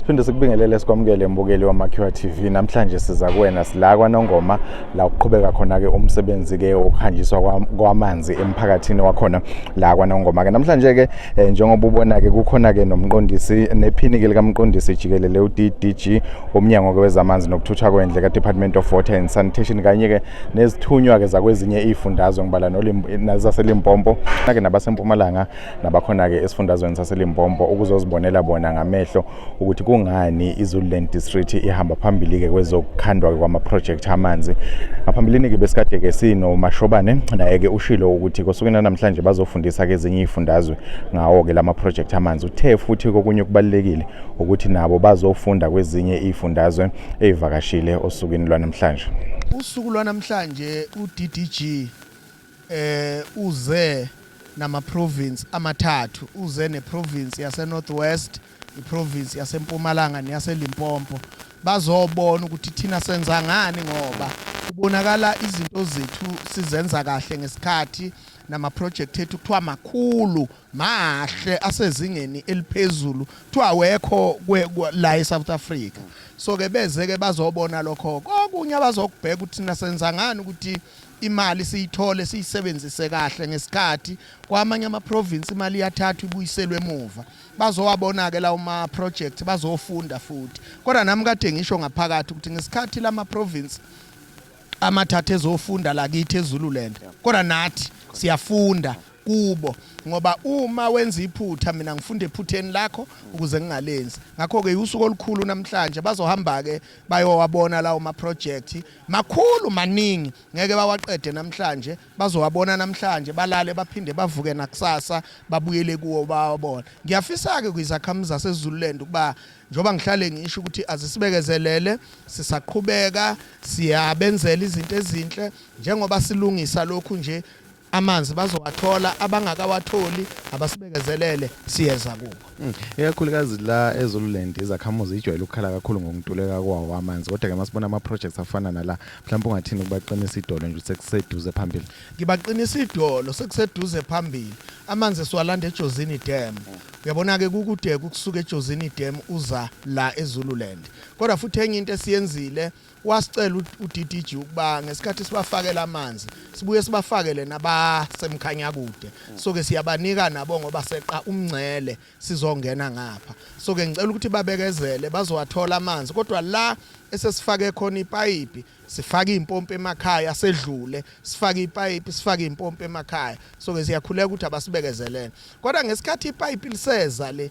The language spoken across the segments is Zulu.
Siphinde sikubingelele sikwamukele mbukeli waMakhiwa TV. Namhlanje siza kuwena sila kwaNongoma la uqhubeka khona ke umsebenzi ke wokuhanjiswa kwamanzi emphakathini wakhona la kwaNongoma ke. Namhlanje ke eh, njengoba ubona ke kukhona ke nomqondisi nephini ke likamqondisi jikelele uDDG womnyango ke wezamanzi nokuthuthwa kwendle ka Department of Water and Sanitation kanye ke nezithunywa ke zakwezinye izifundazwe ngibala nolazase Limpopo ke nabasempumalanga nabakhona-ke esifundazweni saselimbombo ukuzozibonela bona ngamehlo ukuthi kungani izululand district ihamba phambili-ke kwezokukhandwa-ke kwamaphrojekthi amanzi ngaphambilini-ke besikade-ke sinomashobane naye-ke ushilo ukuthi kosukwini lanamhlanje bazofundisa-ke ezinye iy'fundazwe ngawo-ke la maphrojekthi amanzi uthe futhi kokunye okubalulekile ukuthi nabo bazofunda kwezinye iy'fundazwe ey'vakashile osukwini lwanamhlanje usuku lwanamhlanje uddg Eh uze nama province amathathu uze ne province yase North West i province yase Mpumalanga neyase Limpopo bazobona ukuthi thina senza ngani ngoba kubonakala izinto zethu sizenza kahle ngesikhathi namaproject ethu kuthiwa makhulu mahle asezingeni eliphezulu kuthiwa awekho la eSouth Africa so ke beze ke bazobona lokho kokunye abazokubheka ukuthi nasenza ngani ukuthi Imali siyithole siyisebenzise kahle ngesikhathi kwamanye ama province imali iyathathwa ibuyiselwe emuva bazowabona ke lawo ma project bazofunda futhi kodwa nami kade ngisho ngaphakathi ukuthi ngesikhathi lama province amathatha ezofunda la kithi eZululand kodwa nathi siyafunda kubo ngoba uma wenza iphutha mina ngifunda ephutheni lakho ukuze ngingalenzi ngakho ke usuku olukhulu namhlanje bazohamba ke bayowabona lawo ma project Makhulu maningi ngeke bawaqede namhlanje bazowabona namhlanje balale baphinde bavuke nakusasa babuyele kuwo bawabona. Ngiyafisa ke kwizakhamuzi zaseZululand ukuba njoba ngihlale ngisho ukuthi azisibekezelele sisaqhubeka siyabenzela izinto ezinhle njengoba silungisa lokhu nje amanzi bazowathola abangakawatholi abasibekezelele siyeza kubo hmm. ikakhulukazi la ezululand izakhamuzi ijwayele ukukhala kakhulu ngokuntuleka kwawo amanzi kodwa ke masibona ama projects afana nala mhlawumbe ungathini ukubaqinisa idolo nje sekuseduze phambili ngibaqinisa idolo sekuseduze phambili amanzi siwalanda ejozini dam uyabona ke kukude ukusuka ejozini dam uza la ezululand kodwa futhi enye into esiyenzile Wasicela uDDG ukuba ngesikhathi sibafakela amanzi sibuye sibafakele nabasemkhanyakude so ke siyabanika nabo ngoba seqa umngcele sizongena ngapha so ke ngicela ukuthi babekezele bazowathola amanzi kodwa la esesifake khona ipayipi sifake impompi emakhaya sedlule sifake ipayipi sifake impompi emakhaya so ke siyakhuleka ukuthi abasibekezelele kodwa ngesikhathi ipayipi liseza le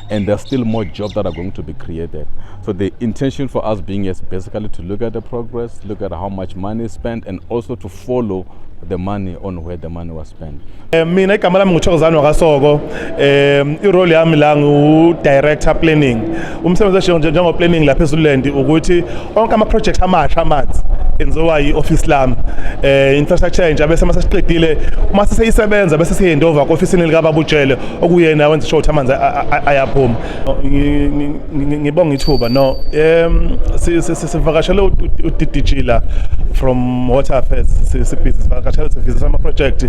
and there's still more jobs that are going to be created. So the intention for us being is basically to look at the progress, look at how much money is spent, and also to follow the money on where the money was spent. Eh, mina igama lami nguthokozane wakasoko um irole yami la ngiwu-director planning umsebenzi eshiyo njengoplanning lapha ezululand ukuthi onke ama-project amasha amanzi enziwa yi-ofisi lami um infrastructure entsha bese uma sesiqedile uma seseyisebenza bese siyendova ku-ofisini likababujele okuyena wenza sure ukuthi amanzi ayaphuma ngibonga ithuba no um sivakashele uddg la from water affairs sivakashele sivisisa ama-project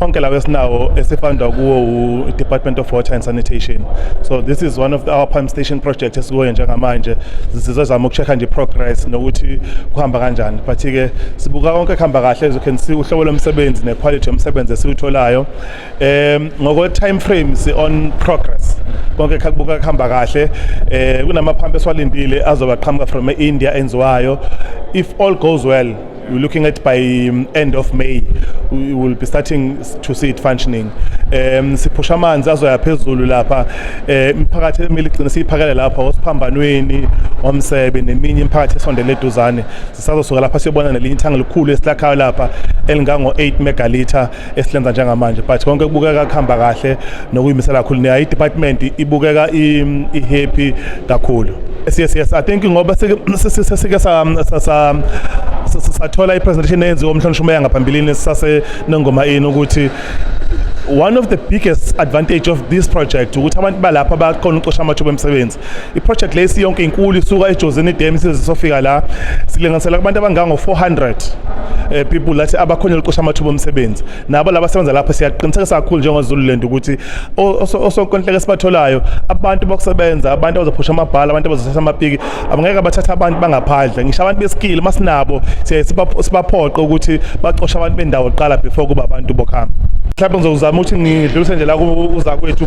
onke lawo esinawo esifundwa kuwo u-department of water and sanitation so this is one of the, our pump station project esikuyo njengamanje sizozama uku-check-a nje progress nokuthi kuhamba kanjani but-ke sibuka konke kuhamba kahle as you can see uhlobo lomsebenzi ne-quality yomsebenzi esiwutholayo um ngokwe time frame si on progress konke kubuka kuhamba kahle um kunamaphampu esiwalindile azoba qhamuka from e-india enziwayo if all goes well we're looking at by um, end of May we will be starting to see it functioning um siphusha amanzi azoya phezulu lapha eh, imiphakathi emile igcina siyiphakele lapha osiphambanweni omsebe neminye imiphakathi esondele eduzane Sisazosuka lapha siyobona nelinye ithangi elikhulu esilakhayo lapha elingango-8 megalitha esilenza njengamanje but konke kubukeka kuhamba kahle nokuyimisela kakhulu nayo i-department ibukeka i-happy kakhulu yes yes yes i think ngoba sesike sathola i-presentation eyenziwa umhlonishwa umeya ngaphambilini sisase nengoma ini ukuthi one of the biggest advantage of this project ukuthi abantu balapha bakhona ucosha amathuba emsebenzi iproject le isiyonke inkulu isuka ejozini dam isize sofika la silinganisela kubantu abangango-400 eh, people lathi abakhona liqosha amathuba omsebenzi nabo laba sebenza lapha siyaqinisekisa kakhulu njengozululand ukuthi osonkontileka esibatholayo abantu bokusebenza abantu abazophusha amabhala abantu abazothatha amapiki abangeke bathatha abantu bangaphandle ngisho abantu besikile uma sinabo siyaye sibaphoqe ukuthi bacoshe abantu bendawo kuqala before kuba abantu bokuhamba mhlawumbe ngizozama ukuthi ngidlulise nje la kuza kwethu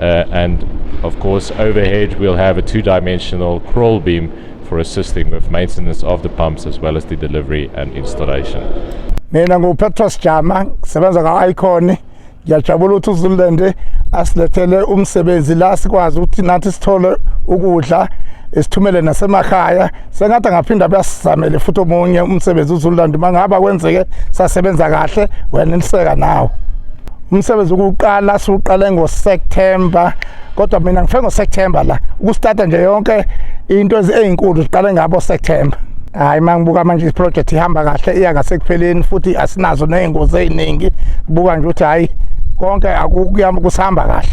Uh, and of course, overhead we'll have a two dimensional crawl beam for assisting with maintenance of the pumps as well as the delivery and installation. Mina nguPetros Jama, ngisebenza ka-Icon. Ngiyajabula ukuthi uZululand asilethele umsebenzi la sikwazi ukuthi nathi sithole ukudla, isithumele nasemakhaya. sengathi angaphinda buyasizamele futhi omunye umsebenzi uzululandi uma ngaba kwenzeke sasebenza kahle wena niseka nawo umsebenzi ukuqala siwuqale ngoSeptember kodwa mina ngifike ngoSeptember la ukustarta nje yonke into ezinkulu siqale ngabo September hayi mangibuka manje iproject ihamba kahle iya ngasekupheleni futhi asinazo nezingozi eziningi buka nje ukuthi hayi konke akukuyama kusihamba kahle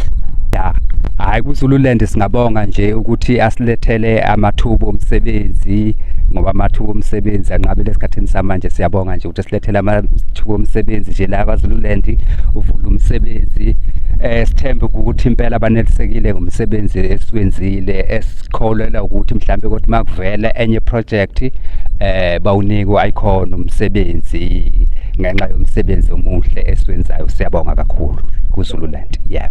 ya hayi kuzululand singabonga nje ukuthi asilethele amathuba omsebenzi ngoba amathuba omsebenzi anqabile esikhathini samanje siyabonga nje ukuthi silethele amathuba omsebenzi nje la kwaZululand uvula umsebenzi eh sithembe ukuthi impela abanelisekile ngomsebenzi esiwenzile esikholelwa ukuthi mhlambe ukuthi makuvela enye project eh bawunikwa ikhona umsebenzi ngenxa yomsebenzi omuhle esiwenzayo siyabonga kakhulu kuZululand yebo yeah.